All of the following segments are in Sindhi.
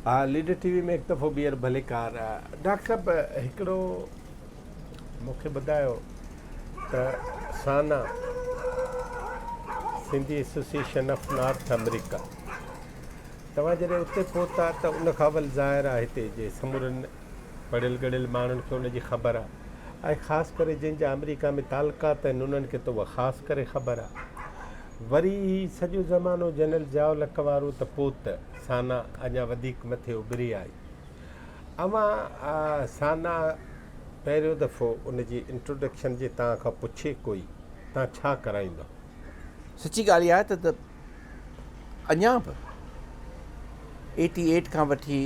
ها ليڊر ٽي وي ۾ هڪ دفعو ٻيهر ڀليڪار ڊاڪٽر صاحب هڪڙو مونکي ٻڌايو ته SANA Sindhi association of North America توهان جڏهن اتي پهتا ته ان کان اول ظاهر آهي هتي جي سمورن پڙهيل ڳڙهيل ماڻهن کي ان جي خبر آهي ۽ خاص ڪري جن جا آمريڪا ۾ تعلقات آهن انهن کي ته اها خاص ڪري خبر آهي وري هي سڄو زمانو جنرل ضياء الحق وارو ته پوء ته سانا اڃا وڌيڪ مٿي اڀري آئي اوهان سانا پهريون دفعو ان جي انٽروڊڪشن جي توهان کان پڇي ڪوئي توهان ڇا ڪرائيندو سچي ڳالهه اها آهي ته اڃا به ايٽي ايٽ کان وٺي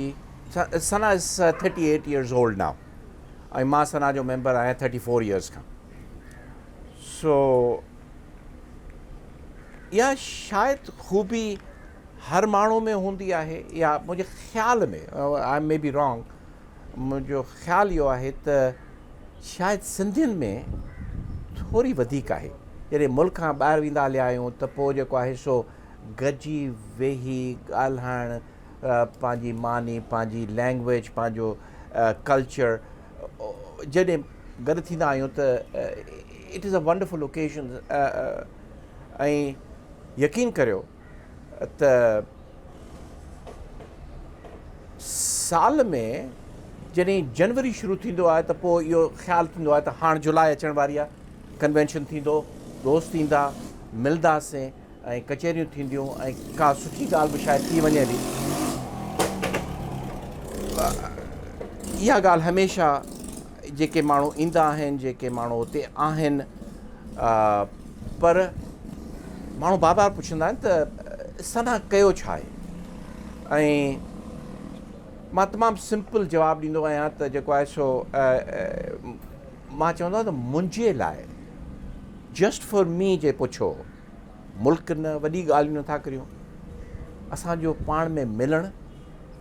SANA is thirty eight years old now ۽ مان سنا جو ميمبر آهيان ٿرٽي فور ايئرز کان سو اها شايد خوبي هر ماڻهو ۾ هوندي آهي يا منهنجي خيال ۾ آء مي بي رانگ منهنجو خيال اهو آهي ته شايد سنڌين ۾ ٿوري وڌيڪ آهي. جڏهن ملڪ کان ٻاهر ويندا هليا آهيون ته پوء جيڪو آهي سو گڏجي ويهي ڳالهائڻ پنهنجي ماني پنهنجي لينگويج پنهنجو ڪلچر جڏهن گڏ ٿيندا آهيون ته it is a wonderful occasion ۽ يقين ڪريو ته سال ۾ جڏهن جنوري شروع ٿيندو آهي ته پوء اهو خيال ٿيندو آهي ته هاڻ جولاء اچڻ واري آهي ڪنوينشن ٿيندو دوست ايندا ملنداسين ۽ ڪچهريون ٿينديون ۽ ڪا سٺي ڳالهه به شايد ٿي وڃي ٿي اها ڳالهه هميشه جيڪي ماڻهو ايندا آهن جيڪي ماڻهو اتي آهن پر ماڻهو بار بار پڇندا آهن ته سنا ڪيو ڇا آهي ۽ مان تمام سمپل جواب ڏيندو آهيان ته جيڪو آهي سو مان چوندو آهيان ته منهنجي لاء جسٽ فور مي جي پڇو ملڪ نه وڏي ڳالهيون نٿا ڪريون اسان جو پاڻ ۾ ملڻ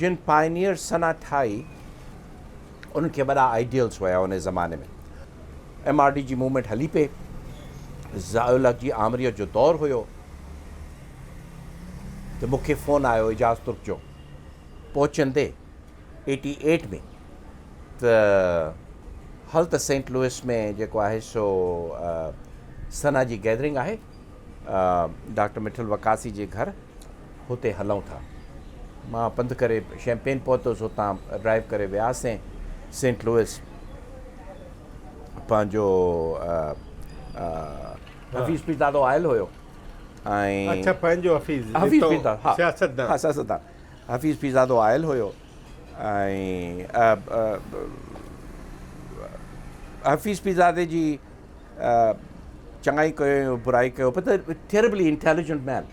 جن پائنيئر سنا ٺاهي انهن کي وڏا آئيڊيلز هيا ان زماني ۾ ايم آر ڊي جي موومينٽ هلي پئي ضياء الحق جي آمريت جو دور هيو ته مون کي فون آيو اعجاز ترڪ جو پهچندي ايٽي ايٽ ۾ ته هل ته سينٽ لوئس ۾ جيڪو آهي سو سنا جي گيدرنگ آهي ڊاڪٽر مٺل وڪاسي جي گهر هتي هلئون ٿا. مان پنڌ ڪري شيمپين پهتس، هتان ڊرائيو ڪري وياسين سينٽ لوئس پنهنجو حفيظ پيرزادو آيل هيو ۽ اڇا پنهنجو حفيظ حفيظ پيرزادو ها سياستدان ها سياستدان حفيظ پيرزادو آيل هيو ۽ حفيظ پيرزادي جي چڱائي ڪيو برائي ڪيو بت ٿيربلي انٽيليجنٽ مين.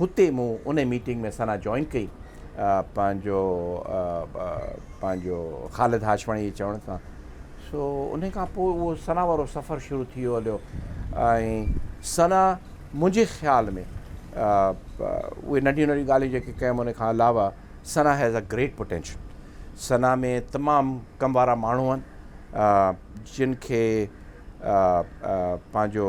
هتي مون انهي ميٽنگ ۾ ثنا جوائن ڪئي پنهنجو پنهنجو خالد هاشمڻي جي چوڻ سان سو انهي کان پوء اهو ثنا وارو سفر شروع ٿي ويو هليو ۽ ثنا منهنجي خيال ۾ اهي ننڍيون ننڍيون ڳالهيون جيڪي ڪيم انهي کان علاوه SANA has a great potential SANA ۾ تمام ڪم وارا ماڻهو آهن جن کي پنهنجو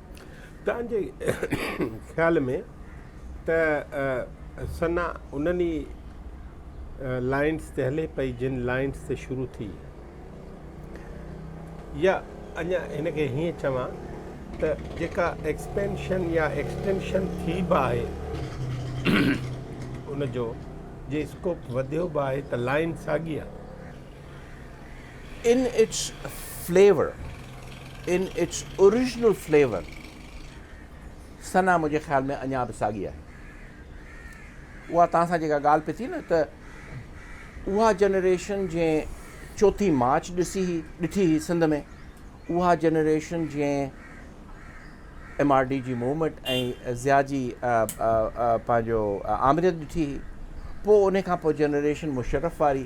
توهان جي خيال ۾ ته ثنا انهن ئي لائنز تي هلي پئي جن لائنز تي شروع ٿي يا اڃا هن کي هيئن چوان ته جيڪا ايڪسپينشن يا ايڪسٽينشن ٿي به آهي ان جو جي اسڪوپ وڌيو به آهي ته لائن ساڳي آهي in its flavour in its original flavour SANA منهنجي خيال ۾ اڃا به ساڳي آهي اها توهان سان جيڪا ڳالهه پئي ٿي نه ته اها جنريشن جنهن چوٿين مارچ ڏسي هي ڏٺي هي سنڌ ۾ اها جنريشن جنهن ايم آر ڊي جي موومينٽ ۽ ضيا جي پنهنجو آمريت ڏٺي هي پوء ان کان پوء جنريشن مشرف واري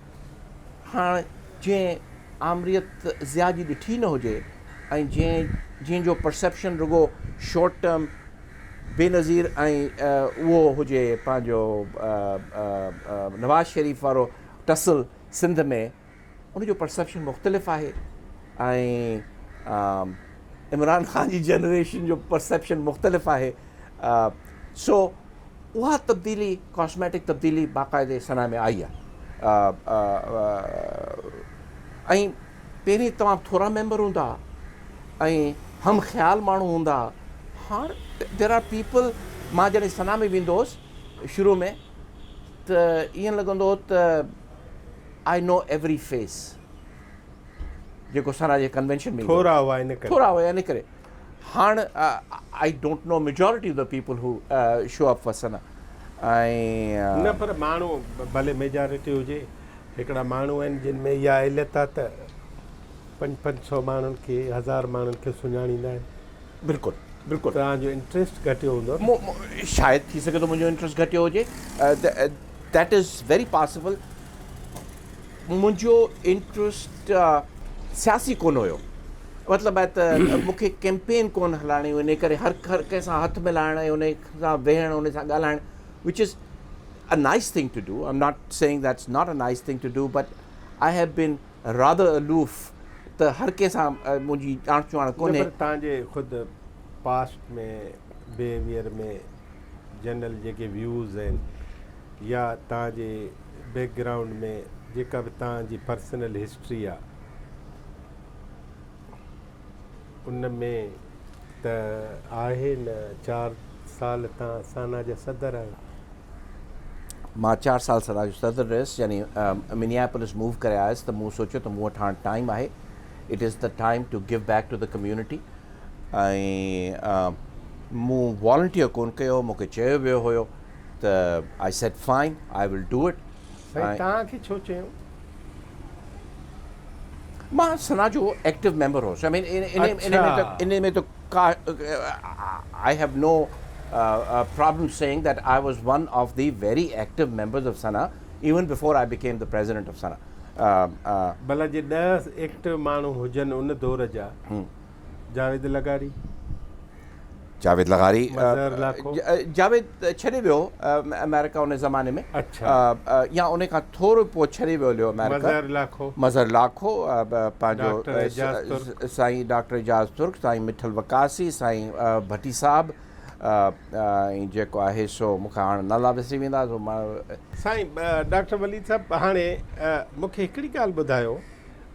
هاڻ جنهن آمريت ضياء جي ڏٺي نه هجي ۽ جنهن جنهن جو پرسيپشن رڳو شارٽ ٽرم بينظير ۽ اهو هجي پنهنجو نواز شريف وارو ٽسل سنڌ ۾ ان جو پرسيپشن مختلف آهي ۽ عمران خان جي جنريشن جو پرسيپشن مختلف آهي سو اها تبديلي، ڪاسميٽڪ تبديلي، باقاعدي صنعه ۾ آئي آهي ۽ پهرين توهان ٿورا ميمبر هوندا هئا ۽ هم خيال ماڻهو هوندا هئا، هاڻ ديئر آر پيپل، مان جڏهن صنعه ۾ ويندو هوس شروع ۾ ته ائين لڳندو هو ته آء نو ايوري فيس، جيڪو صنعه جي ڪنوينشن ۾ ايندو هو، ٿورا هئا ان ڪري. هاڻ I don't know majority of the people who show up وسن ۽ نه پر ماڻهو ڀلي ميجارٽي هجي هڪڙا ماڻهو آهن جن ۾ اها علت آهي ته پنج پنج سو ماڻهن کي هزار ماڻهن کي سڃاڻيندا آهن بلڪل بلڪل توهان جو انٽرسٽ گهٽيو هوندو شايد ٿي سگهي ٿو منهنجو انٽرسٽ گهٽيو هجي ديٽ از ويري پاسبل منهنجو انٽرسٽ سياسي ڪونه هيو مطلب آهي ته مون کي ڪيمپين ڪونه هلائڻي هئي ان ڪري هر هر ڪنهن سان هٿ ملائڻ ۽ ان سان ويهڻ ان سان ڳالهائڻ which is a nice thing to do I'm not saying that's not a nice thing to do but I have been rather aloof ته هر ڪنهن سان منهنجي ڄاڻ چواڻ ڪونهي تان جي خود پاسٽ ۾ بيهيويئر ۾ جنرل جيڪي ويوز آهن يا تان جي بيڪ گرائونڊ ۾ جيڪا به تان جي پرسنل هسٽري آهي ان ۾ ته آهي نه چار سال تان سانا جا صدر آهيو. مان چار سال سانا جو صدر رهيس يعني منياپولس موو ڪري آيس ته مون سوچيو ته مون وٽ هاڻ ٽائيم آهي it is the time to give back to the community ۽ مون والنٽيئر ڪون ڪيو هو مون کي چيو ويو هيو ته I said fine I will do it سائين توهان کي ڇو چيو؟ مان سنا جو ايڪٽو ميمبر هوس آئي مين ان ۾ ته ڪا I have no problem saying that I was one of the very active members of SANA even before I became the president of SANA ڀلا جي ڏهه ايڪٽو ماڻهو هجن ان دور جا جاويد لغاري. جاويد لغاري مظهر لاکو. جاويد ڇڏي ويو آمريڪا ان زماني ۾ اڇا. يا ان کان ٿورو پوء ڇڏي ويو ليو آمريڪا. مظهر لاکو. مظهر لاکو پنهنجو ڊاڪٽر اعجاز ترڪ. سائين ڊاڪٽر اعجاز ترڪ سائين مٺل وقاصي سائين ڀٽي صاحب ۽ جيڪو آهي سو مون کي هاڻ نالا وسري ويندا سو مان. سائين ڊاڪٽر وليد صاحب هاڻي مون کي هڪڙي ڳالهه ٻڌايو.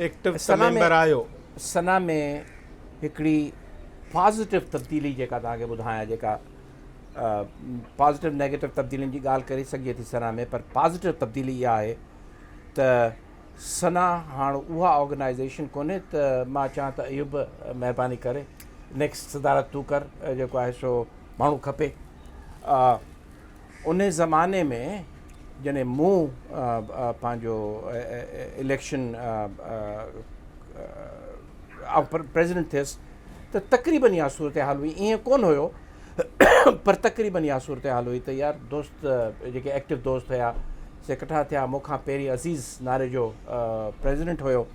ايڪٽو ته ميمبر آهيو. سنا ۾ هڪڙي پازيٽو تبديلي جيڪا توهان کي ٻڌايان جيڪا پازيٽو نيگيٽو تبديلين جي ڳالهه ڪري سگهجي ٿي سنا ۾ پر پازيٽو تبديلي اها آهي ته سنا هاڻ اها آرگنائيزيشن ڪونهي ته مان چان ته ايوب مهرباني ڪري نيڪسٽ صدارت تون ڪر جيڪو آهي سو ماڻهو کپي ان زماني ۾ جڏهن مون پنهنجو اليڪشن آئون پريزيڊنٽ ٿيس ته تقريبن اها صورتحال هئي ائين ڪونه هيو پر تقريبن اها صورتحال هئي ته يار دوست جيڪي ايڪٽو دوست هيا سي ڪٺا ٿيا مون کان پهرين عزيز ناري جو پريزيڊنٽ هيو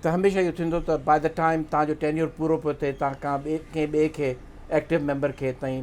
ته هميشه اهو ٿيندو ته باء دا ٽائم تان جو ٽينيور پورو پيو ٿئي تان کان ٻئي ڪنهن ٻئي کي ايڪٽو ميمبر کي تائين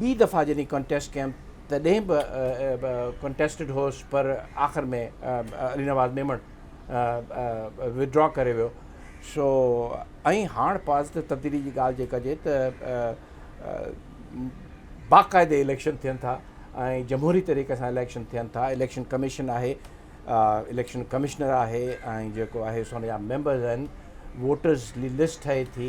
ٻي دفعا جڏهن ڪنٽيسٽ ڪيم تڏهن به ڪنٽيسٽيڊ هوس پر آخر ۾ علي نواز ميمڻ وڊرا ڪري ويو سو ۽ هاڻ پازيٽو تبديلي جي ڳالهه جي ڪجي ته باقاعدي اليڪشن ٿين ٿا ۽ جمهوري طريقي سان اليڪشن ٿين ٿا اليڪشن ڪميشن آهي اليڪشن ڪمشنر آهي ۽ جيڪو آهي سو ان جا ميمبرز آهن ووٽرز جي لسٽ ٺهي ٿي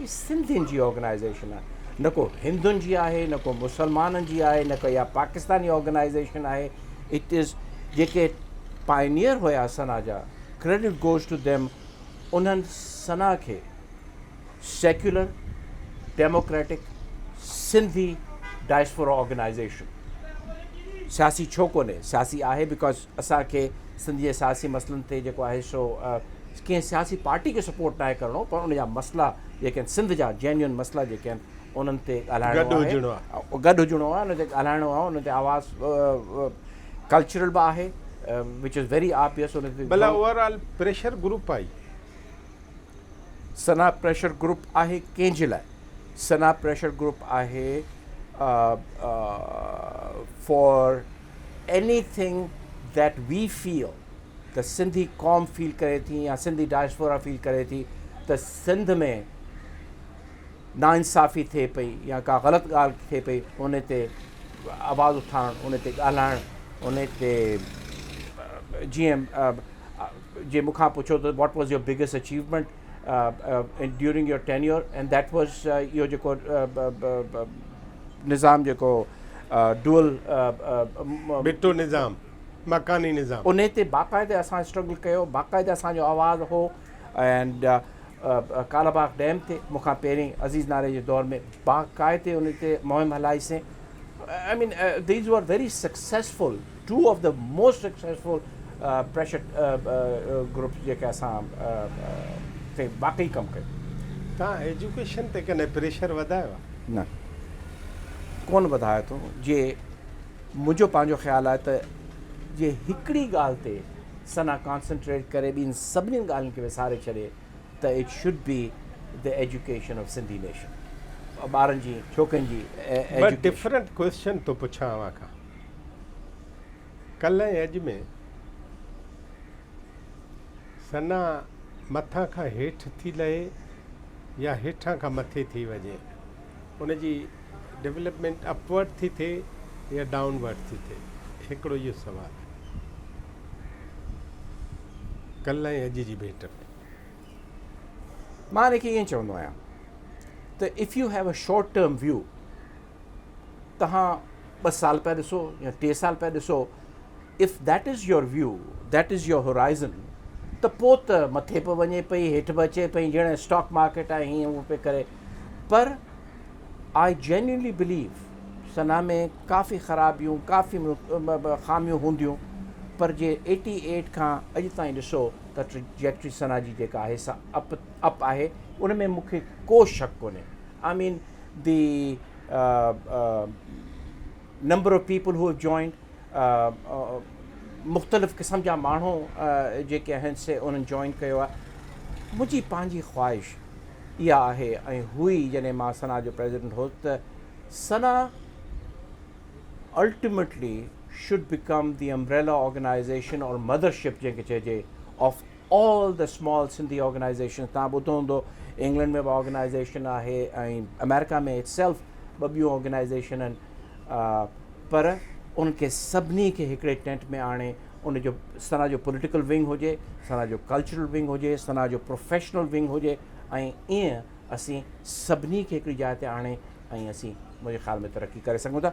هي سنڌين جي آرگنائيزيشن آهي نه ڪو هندن جي آهي نه ڪو مسلمانن جي آهي نه ڪا پاڪستاني آرگنائيزيشن آهي اٽ از جيڪي پائنيئر هيا سنا جا ڪريڊٽ گوز ٽو ديم انهن سنا کي secular democratic Sindhi diaspora organisation سياسي ڇو ڪونهي سياسي آهي بڪاز اسان کي سنڌ جي سياسي مسئلن تي جيڪو آهي سو ڪنهن سياسي پارٽي کي سپورٽ ناهي ڪرڻو پر ان جا مسئلا جيڪي آهن سنڌ جا جينيون مسئلا جيڪي آهن انهن تي ڳالهائڻو آهي گڏ هجڻو آهي انهن تي ڳالهائڻو آهي انهن تي آواز ڪلچرل به آهي وچ از ويري آبيس ان تي بلا اوور آل پريشر گروپ آهي سنا پريشر گروپ آهي ڪنهن جي لاء سنا پريشر گروپ آهي for anything that we feel ته سنڌي قوم فيل ڪري ٿي يا سنڌي ڊائسفورا فيل ڪري ٿي ته سنڌ ۾ ناانصافي ٿئي پئي يا ڪا غلط ڳالهه ٿئي پئي ان تي آواز اٿارڻ ان تي ڳالهائڻ ان تي جيئن جي مون کان پڇو ته what was your biggest achievement during your tenure and that was اهو جيڪو نظام جيڪو ڊول بٽو نظام مڪاني نظام ان تي باقاعدي اسان اسٽرگل ڪيو باقاعدي اسانجو آواز هو اينڊ ڪالا باغ ڊيم تي مون کان پهرين عزيز ناري جي دور ۾ باقاعدي ان تي مهم هلائيسين I mean these are very successful two of the most successful pressure groups جيڪي اسان تي واقعي ڪم ڪيو. توهان ايجوڪيشن تي ڪڏهن پريشر وڌايو آهي؟ نه ڪونه وڌايو اٿئون جي منهنجو پنهنجو خيال آهي ته جي هڪڙي ڳالهه تي ثنا ڪانسنٽريٽ ڪري ٻين سڀني ڳالهين کي وساري ڇڏي ته it should be the education of Sindhi nation ٻارن جي ڇوڪرين جي ايجوڪيشن. ٻه ڊفرنٽ ڪويسچن ٿو پڇان اوهان کان. ڪلهه ۽ اڄ ۾ ثنا مٿان کان هيٺ ٿي لهي يا هيٺان کان مٿي ٿي وڃي، ان جي ڊولپمينٽ اپ ورڊ ٿي ٿئي يا ڊائون ورڊ ٿي ٿئي، هڪڙو اهو سوال آهي ڪلهه ۽ اڄ جي ڀيٽ ۾. مان ان کي ائين چوندو آهيان ته if you have a short term view تهان ٻه سال پيا ڏسو يا ٽي سال پيا ڏسو if that is your view that is your horizon ته پوء ته مٿي به وڃي پئي هيٺ به اچي پئي جهڙي اسٽاڪ مارڪيٽ آهي هيئن هو پئي ڪري پر آئي جينيونلي بليو سنا ۾ ڪافي خرابيون ڪافي خاميون هونديون پر جي ايٽي ايٽ کان اڄ تائين ڏسو ته ٽريجيڪٽري سنا جي جيڪا آهي سا اپ اپ آهي ان ۾ مونکي ڪو شڪ ڪونهي I mean the number of people who have joined مختلف قسم جا ماڻهو جيڪي آهن سي انهن جوائن ڪيو آهي منهنجي پنهنجي خواهش اها آهي ۽ هئي جڏهن مان سنا جو پريزيڊنٽ هوس ته SANA ultimately should become the umbrella organisation or mother ship جنهن کي چئجي of All the small Sindhi organisations توهان ٻڌو هوندو انگلنڊ ۾ به آرگنائيزيشن آهي ۽ آمريڪا ۾ Itself ٻه ٻيون آرگنائيزيشن آهن پر انهن کي سڀني کي هڪڙي ٽينٽ ۾ آڻي ان جو سنا جو پوليٽيڪل ونگ هجي سنا جو ڪلچرل ونگ هجي سنا جو پروفيشنل ونگ هجي ۽ ايئن اسين سڀني کي هڪڙي جاء تي آڻي ۽ اسين منهنجي خيال ۾ ترقي ڪري سگهون ٿا.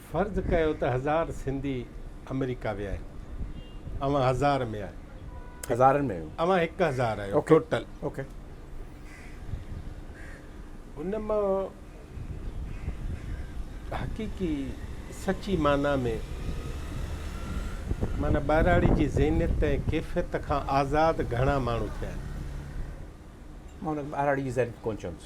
فرض ڪيو ته هزار سنڌي آمريڪا ويا آهن اوهان هزار ۾ آهيو هزارن ۾ آهيون اوهان هڪ هزار آهيو ٽوٽل اوڪي ان مان حقيقي سچي معنيٰ ۾ معنيٰ ٻهراڙي جي ذهنيت ۽ ڪيفيت کان آزاد گهڻا ماڻهو ٿيا آهن مان ان کي ٻهراڙي جي ذهنيت ڪونه چوندس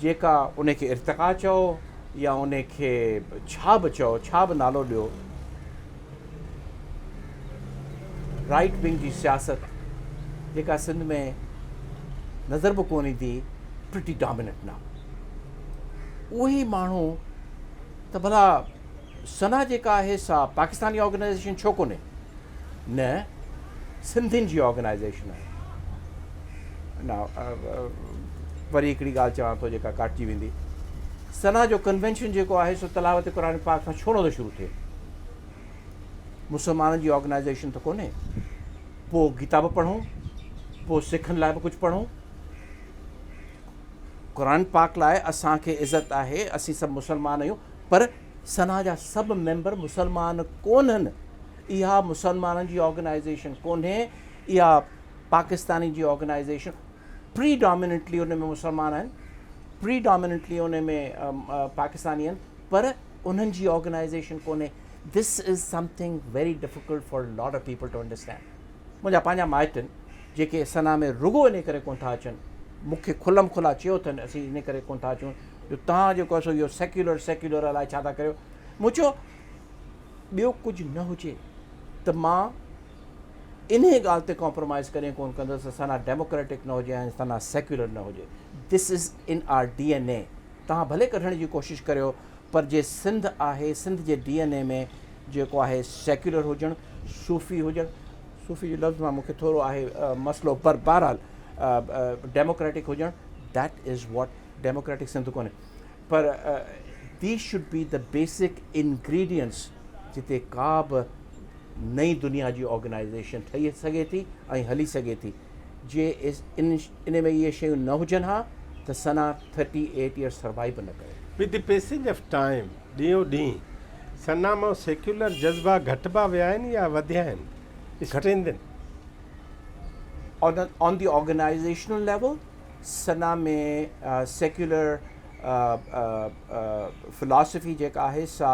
جيڪا انهي کي ارتقا چئو يا انهي کي ڇا به چئو، ڇا به نالو ڏيو، رائيٽ ونگ جي سياست جيڪا سنڌ ۾ نظر به ڪونه ايندي پرٽي ڊاميننٽ ناء اهي ماڻهو ته ڀلا سنا جيڪا آهي سا پاڪستاني آرگنائيزيشن ڇو ڪونهي؟ نه سنڌين جي آرگنائيزيشن آهي. نه وري هڪڙي ڳالهه چوان ٿو جيڪا ڪاٽجي ويندي. سنا جو ڪنوينشن جيڪو آهي سو تلاوت قرآن پاڪ کان ڇو نٿو شروع ٿئي؟ مسلمانن جي آرگنائيزيشن ته ڪونهي. پوء گيتا به پڙهون، پوء سکن لاء به ڪجهه پڙهون. قرآن پاڪ لاء اسان کي عزت آهي، اسين سڀ مسلمان آهيون. پر سنا جا سڀ ميمبر مسلمان ڪونهن، اها مسلمانن جي آرگنائيزيشن ڪونهي، اها پاڪستانين جي آرگنائيزيشن پري ڊاميننٽلي ان ۾ مسلمان آهن، پري ڊاميننٽلي ان ۾ پاڪستاني آهن پر انهن جي آرگنائيزيشن ڪونهي، this is something very difficult for lot of people to understand. منهنجا پنهنجا مائٽ آهن، جيڪي سنا ۾ رڳو انهيء ڪري ڪونه ٿا اچن. مون کي کلم کلا چيو اٿن، اسين انهيء ڪري ڪونه ٿا اچون، جو توهان جيڪو آهي سو اهو سيڪيولر سيڪيولر الائي ڇا ٿا ڪريو. مون چيو، ٻيو ڪجهه نه هجي ته مان انهيء ڳالهه تي ڪامپرومائيز ڪڏهن ڪونه ڪندس ته سنا ڊيموڪريٽڪ نه هجي ۽ سنا سيڪيولر نه هجي. This is in our D N A. توهان ڀلي ڪڍڻ جي ڪوشش ڪريو، پر جي سنڌ آهي، سنڌ جي ڊي اين اي ۾ جيڪو آهي سيڪيولر هجڻ، صوفي هجڻ، صوفي جي لفظ مان مون کي ٿورو آهي مسئلو پر بهرحال ڊيموڪريٽڪ هجڻ That is what democratic Sindh ڪونهي پر These should be the basic ingredients جتي ڪا به نئين دنيا جي آرگنائيزيشن ٺهي سگهي ٿي ۽ هلي سگهي ٿي. جي ان ۾ اهي شيون نه هجن ها ته SANA thirty eight years survive به نه ڪري. With the passage of time, ڏينهون ڏينهن سنا مان سيڪيولر جذبا گهٽبا ويا آهن يا وڌيا آهن؟ Strengthen. On the organisational level SANA ۾ secular philosophy جيڪا آهي سا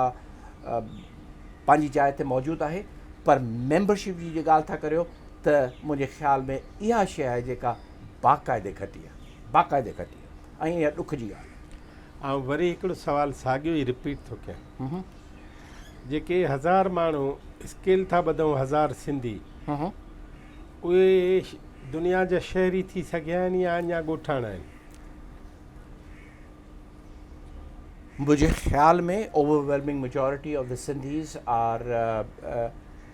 پنهنجي جاء تي موجود آهي پر ميمبرشپ جي جي ڳالهه ٿا ڪريو ته منهنجي خيال ۾ اها شيء آهي جيڪا باقاعدي گهٽي آهي باقاعدي گهٽي آهي ۽ اها ڏک جي ڳالهه آهي. آئون وري هڪڙو سوال ساڳيو ئي رپيٽ ٿو ڪيان جيڪي هزار ماڻهو اسڪيل ٿا ٻڌون هزار سنڌي اهي دنيا جا شهري ٿي سگهيا آهن يا اڃا ڳوٺاڻا آهن؟ منهنجي خيال ۾ overwhelming majority of the Sindhis are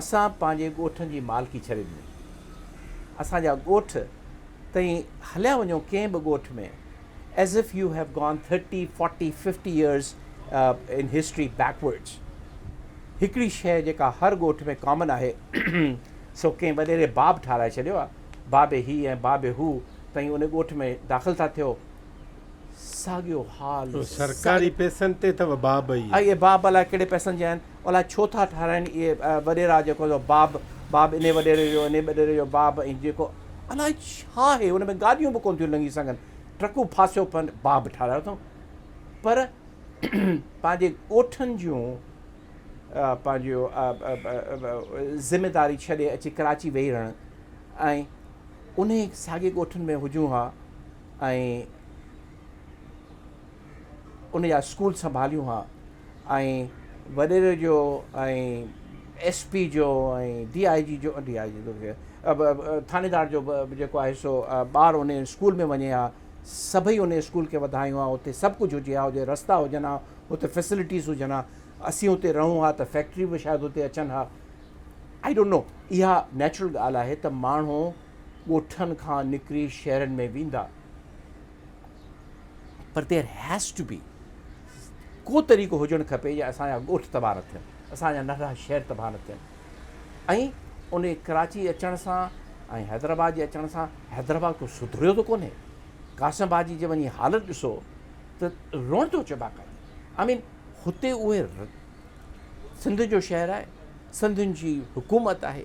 اسان پنهنجي ڳوٺن جي مالڪي ڇڏي ڏني. اسان جا ڳوٺ تئين هليا وڃو ڪنهن به ڳوٺ ۾ as if you have gone thirty forty fifty years in history backwards هڪڙي شيء جيڪا هر ڳوٺ ۾ ڪامن آهي سو ڪنهن وڏيري باب ٺاهرائي ڇڏيو آهي بابي هي ۽ بابي هو تئين ان ڳوٺ ۾ داخل ٿا ٿيو ساڳيو حال سرڪاري پئسن تي اٿو باب اهي باب الائي ڪهڙي پئسن جا آهن الاء ڇو ٿا ٺاراهين اهي وڏيرا جيڪو جو باب باب انهي وڏيري جو انهي وڏيري جو باب ۽ جيڪو الاء ڇا اهي ان ۾ گاڏيون به ڪونه ٿيون لنگهي سگهن ٽرڪون ڦاسيو پن باب ٺاراهيو اٿئون پر پنهنجي ڳوٺن جون پنهنجيون ذميداري ڇڏي اچي ڪراچي ويهي رهڻ ۽ انهي ساڳي ڳوٺن ۾ هجون ها ۽ ان جا اسڪول سنڀاليون ها ۽ وڏيري جو ۽ ايس پي جو ۽ ڊي آء جي جو ڊي آء جي جو ٿاڻيدار جو به جيڪو آهي سو ٻار ان اسڪول ۾ وڃي ها سڀئي ان اسڪول کي وڌايون ها اتي سڀ ڪجهه هجي ها اتي رستا هجن ها اتي فيسلٽيز هجن ها اسين اتي رهون ها ته فيڪٽري به شايد اتي اچن ها آئي ڊونٽ نو اها نيچرل ڳالهه آهي ته ماڻهو ڳوٺن کان نڪري شهرن ۾ ويندا پر ديئر هيز ٽو بي ڪو طريقو هجڻ کپي جي اسان جا ڳوٺ تباهه نه ٿين اسان جا ننڍا شهر تباهه نه ٿين ۽ ان ڪراچي اچڻ سان ۽ حيدرآباد جي اچڻ سان حيدرآباد ڪو سڌريو ته ڪونهي قاسم آباد جي جي وڃي حالت ڏسو ته روئڻ ٿو اچي باقاعدي آئی مين هتي اهي سنڌ جو شهر آهي سنڌين جي حڪومت آهي